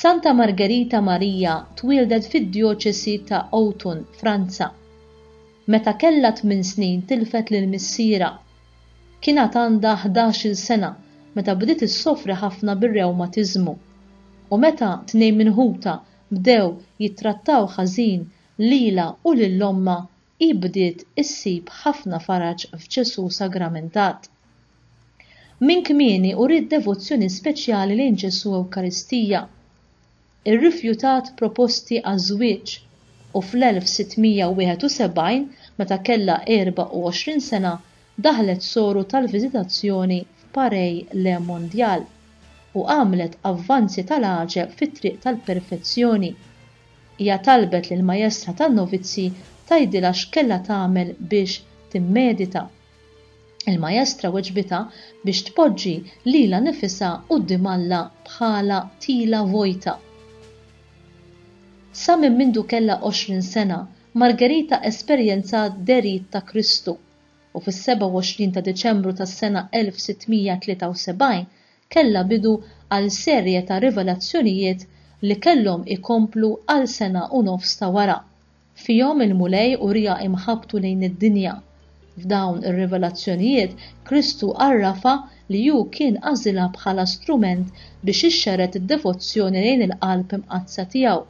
Santa Margherita Maria twieldet fid-djoċesi ta' Autun, Franza. Meta kellha tmien snin tilfet lil missierha. Kien għad għandha ħdax-il sena meta bdiet issofri ħafna bir-rewmatiżmu. U meta tnejn minn ħutha bdew jittrattaw ħażin lilha u lil ommha hi bdiet issib ħafna faraġ f'Ġesù sagramentat. Minn kmieni uriet devozzjoni speċjali lejn Ġesù Ewkaristija. Irrifjutat proposti għaż-żwieġ u fl-1671, meta kellha 24 sena, daħlet soru tal-viżitazzjoni f'Pareil le Mondial u għamlet avvanzi tal-għaġeb fit-triq tal-perfezzjoni. Hija talbet lill-majestra tan-novizji tgħidilha x'kellha tagħmel biex timmedita. Il-majestra weġbitha biex tpoġġi lilha nifisha quddiem Alla bħala tila vojta. Sa minn mindu kellha għoxrin sena, Margherita esperjenzat derit ta' Kristu, u fis-27 ta' Diċembru tas-sena 1673 kellha bidu għal serje ta' rivelazzjonijiet li kellhom ikomplu għal sena u nofs ta' wara. Fihom il-Mulej uriha imħabbtu lejn id-dinja. F'dawn ir-rivelazzjonijiet Kristu għarrafha li hu kien għażilha bħala strument biex ixxerred id-devozzjoni lejn il-Qalb Imqaddsa tiegħu.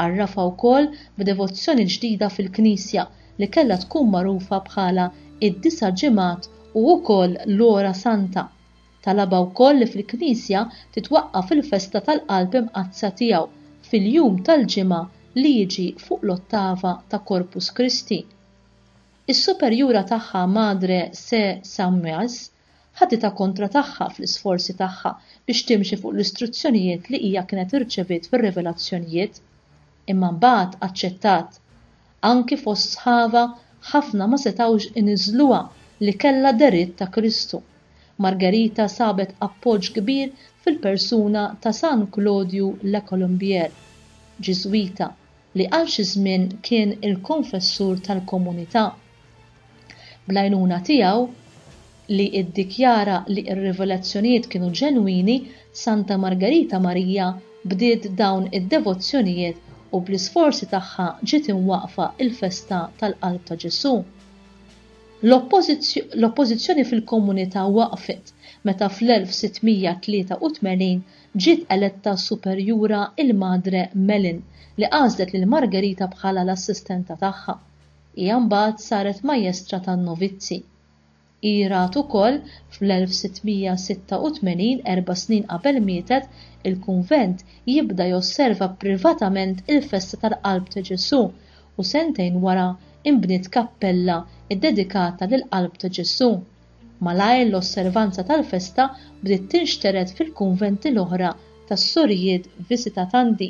Għarrafha wkoll b'devozzjoni ġdida fil-Knisja li kellha tkun magħrufa bħala id-Disa' Ġimgħat u wkoll l-Ora Santa. Talabha wkoll li fil-Knisja titwaqqaf il-festa tal-Qalb Imqaddsa tiegħu fil-jum tal-Ġimgħa li jiġi fuq l-ottava ta' Corpus Christi. Is-superjura tagħha Madre Sê Samuels ħaditha kontra tagħha fl-isforzi tagħha biex timxi fuq l-istruzzjonijiet li hija kienet irċeviet fir-rivelazzjonijiet. imma mbagħad aċċettat. Anki fost sħabha ħafna ma setgħux iniżżluha li kellha deritt ta' Kristu. Margherita sabet appoġġ kbir fil-persuna ta' San Klodju Le Colombier, Ġiżwita, li għal xi żmien kien il-konfessur tal-komunità. Bl-għajnuna tiegħu, li ddikjara li r-rivelazzjonijiet kienu ġenwini, Santa Margarita Marija bdiet dawn id-devozzjonijiet u bl-isforzi tagħha ġiet imwaqqfa l-festa tal-Qalb ta' Ġesù. L-oppożizzjoni fil-komunità waqfet meta fl-1683 ġiet eletta superjura il-Madre Mellin, li għażlet lil Margarita bħala l-assistenta tagħha. Hija mbagħad saret Majestra tan-Novizzi. Hi rat ukoll, fl-1686, erba' snin qabel mietet, il-kunvent jibda josserva privatament il-festa tal-Qalb ta' Ġesù u sentejn wara nbniet kappella ddedikata lill-Qalb ta' Ġesù. Malajr l-osservanza tal-festa bdiet tinxtered fil-kunventi l-oħra tas-Sorijiet Visitatandi.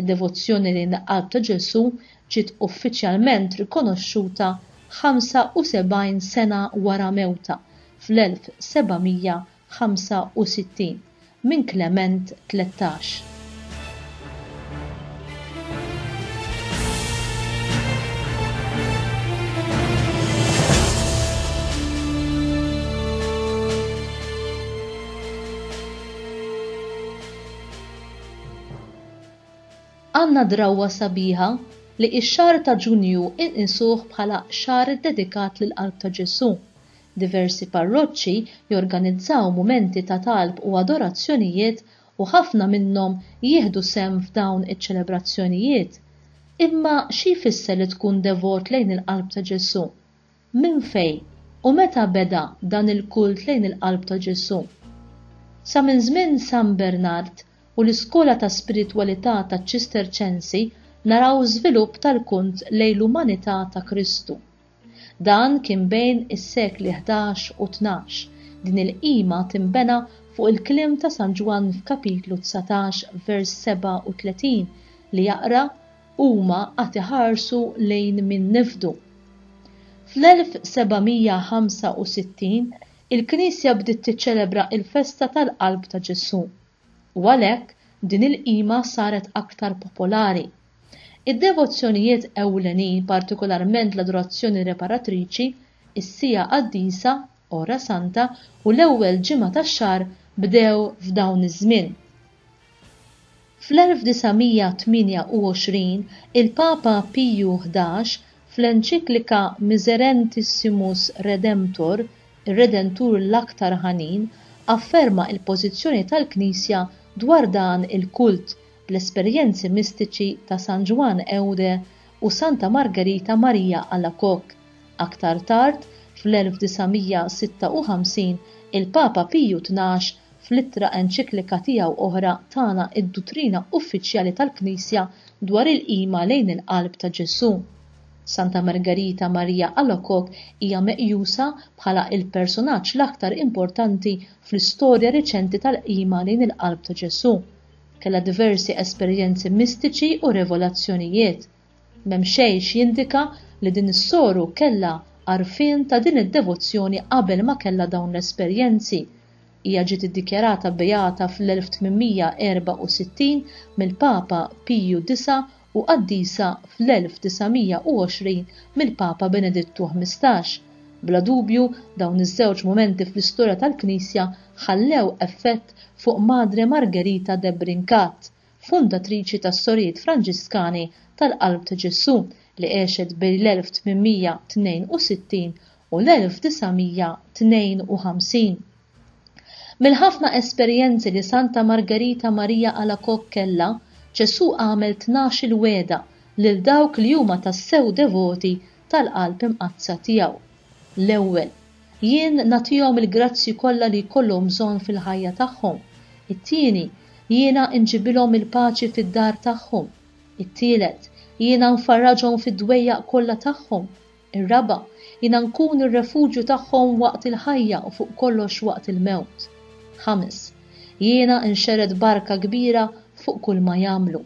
Id-devozzjoni lejn il-Qalb ta' Ġesù ġiet uffiċjalment rikonoxxuta 75 sena wara mewtha fl-1765 minn Klement Tlettax. Għandna drawwa sabiħa li x-xahar ta' Ġunju inqisuh bħala xahar iddedikat lill-Qalb ta' Ġesù. Diversi parroċċi jorganizzaw mumenti ta' talb u adorazzjonijiet u ħafna minnhom jieħdu sehem f'dawn iċ-ċelebrazzjonijiet. Imma xi jfisser li tkun devot lejn il-Qalb ta' Ġesù? Minn fejn u meta beda dan il-kult lejn il-Qalb ta' Ġesù? Sa minn żmien San Bernard u l-iskola ta' spiritwalità taċ-Ċisterċensi naraw żvilupp tal-kunt lejn l-umanità ta' Kristu. Dan kien bejn is-sekli ħdax u tnax, din il-qima tinbena fuq il-kliem ta' San Ġwann f'Kapitlu dsatax vers 37 li jaqra, huma għad iħarsu lejn min nefdu. Fl-1765 il-Knisja bdiet tiċċelebra l-festa tal-Qalb ta' Ġesù, u għalhekk din il-qima saret aktar popolari. Id-devozzjonijiet ewlenin, partikolarment l-adorazzjoni reparatriċi, is-Siegħa Qaddisa, Hora Santa u l-ewwel ġimgħa tax-xahar bdew f'dawn iż-żmien. Fl-1928 il-Papa Piju Ħdax, fl-enċiklika Miserentissimus Redemptor, Ir-Redentur l-Aktar Ħanin, afferma l-pożizzjoni tal-Knisja dwar dan il-kult bl-esperjenzi mistiċi ta' San Ġwann Eude u Santa Margherita Maria Alacoque. Aktar tard, fl-1956, il-Papa Piju Tnax, fl-ittra enċiklika tiegħu oħra tana d-duttrina uffiċjali tal-Knisja dwar il-qima lejn il-qalb ta' Ġesù. Santa Margarita Maria Alacoque hija meqjusa bħala l-personaġġ l-aktar importanti fl-istorja reċenti tal-qima lejn il-qalb ta' Ġesù. Kellha diversi esperjenzi mistiċi u revelazzjonijiet. M'hemm xejn x'jindika li din is-soru kellha għarfien ta' din id-devozzjoni qabel ma kellha dawn l-esperjenzi. Hija ġiet iddikjarata beata fl-1864 mill-Papa Piju Disa' u qaddisa fl-1920 mill-Papa Benedittu Ħmistax. Bla dubju, dawn iż-żewġ mumenti fl-istorja tal-Knisja ħallew effett fuq Madre Margherita de Brincat, fundatriċi tas-Sorijiet Franġiskani tal-Qalb ta' Ġesù li għexet bejn l-1862 u l-1952. Mill-ħafna esperjenzi li Santa Margherita Maria Alacoque kellha, Ġesù għamel tnax-il wegħda lil dawk li huma tassew devoti tal-qalb imqaddsa tiegħu. L-ewwel, jien nagħtihom il-grazzji kollha li jkollhom bżonn fil-ħajja tagħhom. It-tieni, jiena nġibilhom il-paċi fid-dar tagħhom. It-tielet, jiena nfarraġhom fid-dwejjaq kollha tagħhom. Ir-raba', jiena nkun ir-refuġju tagħhom waqt il-ħajja u fuq kollox waqt il-mewt. Ħames, jiena nxerred barka kbira fuq kulma jagħmlu.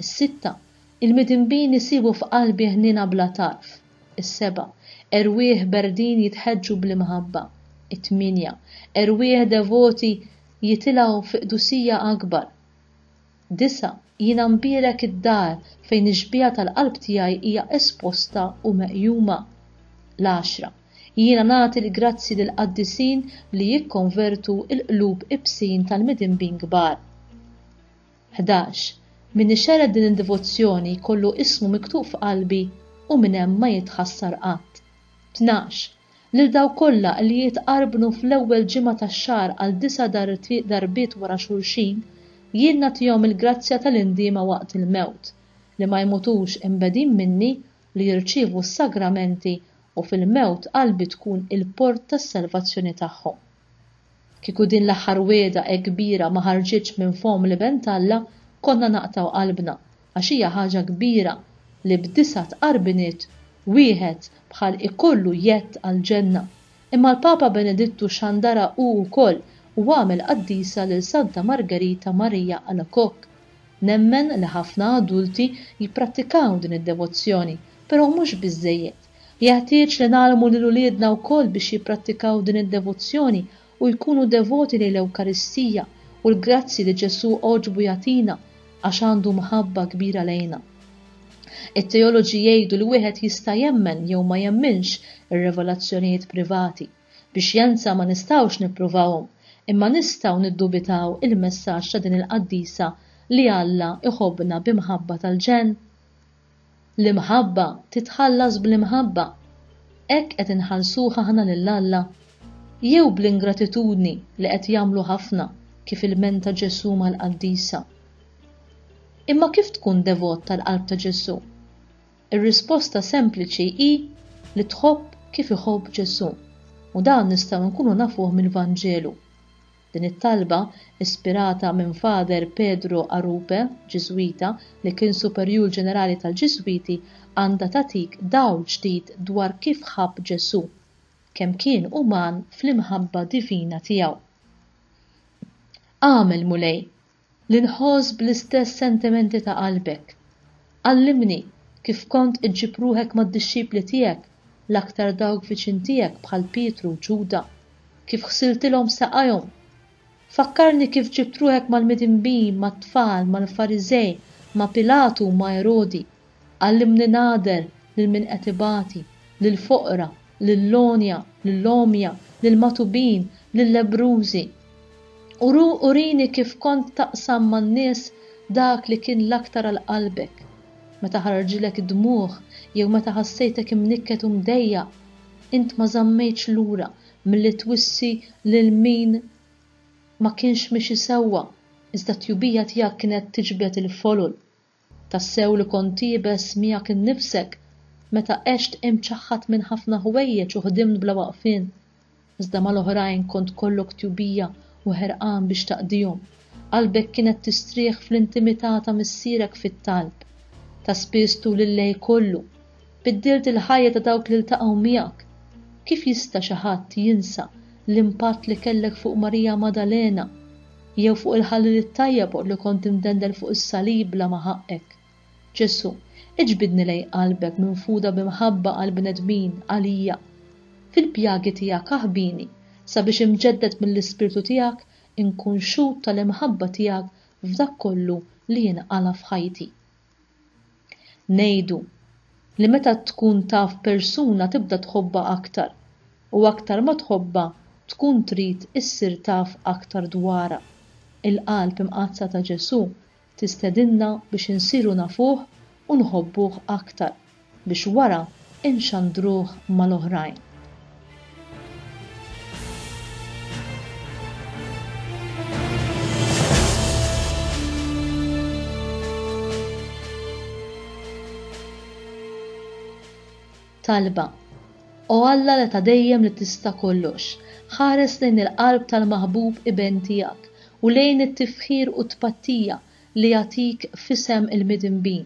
Is-sitta, Il-midinbin isibu f'qalbi ħniena bla tarf. Is-seba', Erwieħ berdin jitħeġġu bl-imħabba. It-tmienja, Erwieħ devoti jitilgħu fi qdusija akbar. Disa', Jiena nbierek id-dar fejn ix-xbieha tal-qalb tiegħi hija esposta u meqjuma. L-għaxra, Jiena nagħti l-grazzji lill-qaddisin li jikkonvertu l-qlub ibsin tal-midinbin kbar. 11 Min ixerred din id-divozzjoni jkollu ismu miktub f'qalbi u minn hemm ma jitħassar qatt. Tnax, Lil dawk kollha li jitqarbnu fl-ewwel ġimgħa tax-xahar għal disa' darbiet wara xulxin, jien nagħtihom il-grazzja tal-indiema waqt il-mewt, li ma jmutux imbegħdin minni, li jirċievu s-sagramenti u fil-mewt qalbi tkun il-port tas-salvazzjoni tagħhom. Kieku din l-aħħar wegħda hekk kbira ma ħarġitx minn fomm l-Iben t'Alla, konna naqtgħu qalbna, għax hija ħaġa kbira li b'disgħat qarbiniet wieħed bħal ikollu jedd għall-ġenna. Imma l-Papa Benedittu xandara hu wkoll u għamel qaddisa lil Santa Margherita Maria Alacoque. Nemmen li ħafna adulti jipprattikaw din id-devozzjoni, però mhux biżżejjed. Jeħtieġ li ngħallmu lil uliedna wkoll biex jipprattikaw din id-devozzjoni u jkunu devoti lejn l-Ewkaristija u l-grazzji li Ġesù għoġbu jagħtina għax għandu mħabba kbira lejna. It-teoloġi jgħidu li wieħed jista' jemmen jew ma jemminx ir-revelazzjonijiet privati. Bi xjenza ma nistgħux nippruvawhom, imma nistgħu niddubitaw il-messaġġ ta' din il-qaddisa li Alla jħobbna bi mħabba tal-ġenn? L-imħabba titħallas bl-imħabba. Hekk qed inħallsuh aħna lil Alla? Jew bl-ingratitudni li qed jagħmlu ħafna kif ilmenta Ġesù mal-qaddisa? Imma kif tkun devot tal-qalb ta' Ġesù? Ir-risposta sempliċi hi li tħobb kif iħobb Ġesù, u dan nistgħu nkunu nafuh mill-Vanġelu. Din it-talba, ispirata minn Father Pedro Arupe, Ġiżwita, li kien Superjur Ġenerali tal-Ġiżwiti, għandha tagħtik dawl ġdid dwar kif ħabb Ġesù, kemm kien uman fl-imħabba divina tiegħu. Agħmel, Mulej! Li nħoss bl-istess sentimenti ta' qalbek. Għallimni kif kont iġġib ruħek mad-dixxipli tiegħek, l-aktar dawk viċin tiegħek bħal Pietru u Ġuda, kif ħsiltilhom saqajhom. Fakkarni kif ġibt ruħek mal-midinbin, mat-tfal, mal-Fariżej, ma' Pilatu u ma' Erodi, Għallimni nagħder lil min qed ibati, lill-foqra, lill-għonja, lill-għomja, lill-magħtubin, lil-lebbrużi. U urini kif kont taqsam man-nies dak li kien l-aktar għal qalbek, meta ħarġilek id-dmugħ jew meta ħassejtek imnikket u mdejjaq, int ma żammejtx lura milli twissi lil min ma kienx miexi sewwa, iżda t-tjubija tiegħek kienet tiġbed il-folol Tassew li kont iebes miegħek innifsek meta għext imċaħħad minn ħafna ħwejjeġ u ħdimt bla waqfien, iżda mal-oħrajn kont kollok tjubija u ħerqan biex taqdihom. Qalbek kienet tistrieħ fl-intimità ta' Missierek fit-talb ta' spiss tul il-lejl kollu, Biddilt il-ħajja ta' dawk li ltaqgħu miegħek. Kif jista' xi ħadd jinsa l-impatt li kellek fuq Marija Maddalena jew fuq il-ħalliel it-tajjeb li kont imdendel fuq is-salib bla ma ħaqqek? Ġesù, iġbidni lejn qalbek minfuda bi mħabba għall-bnedmin, għalija. Fil-pjagi tiegħek aħbini sabiex imġedded mill-Ispirtu tiegħek inkun xhud tal-imħabba tiegħek f'dak kollu li jinqala' f'ħajti. Ngħidu li meta tkun taf persuna tibda tħobbha aktar u aktar ma tħobbha tkun trid issir taf aktar dwarha. Il-qalb imqaddsa ta' Ġesù tistedinna biex insiru nafuh u nħobbuh aktar. biex wara nxandruh mal-oħrajn. Talba O Alla li ta' dejjem li tista' kollox, ħares lejn il-qalb tal-maħbub iben tiegħek u lejn it-tifħir u t-tpattija li jagħtik f'isem il-midinbin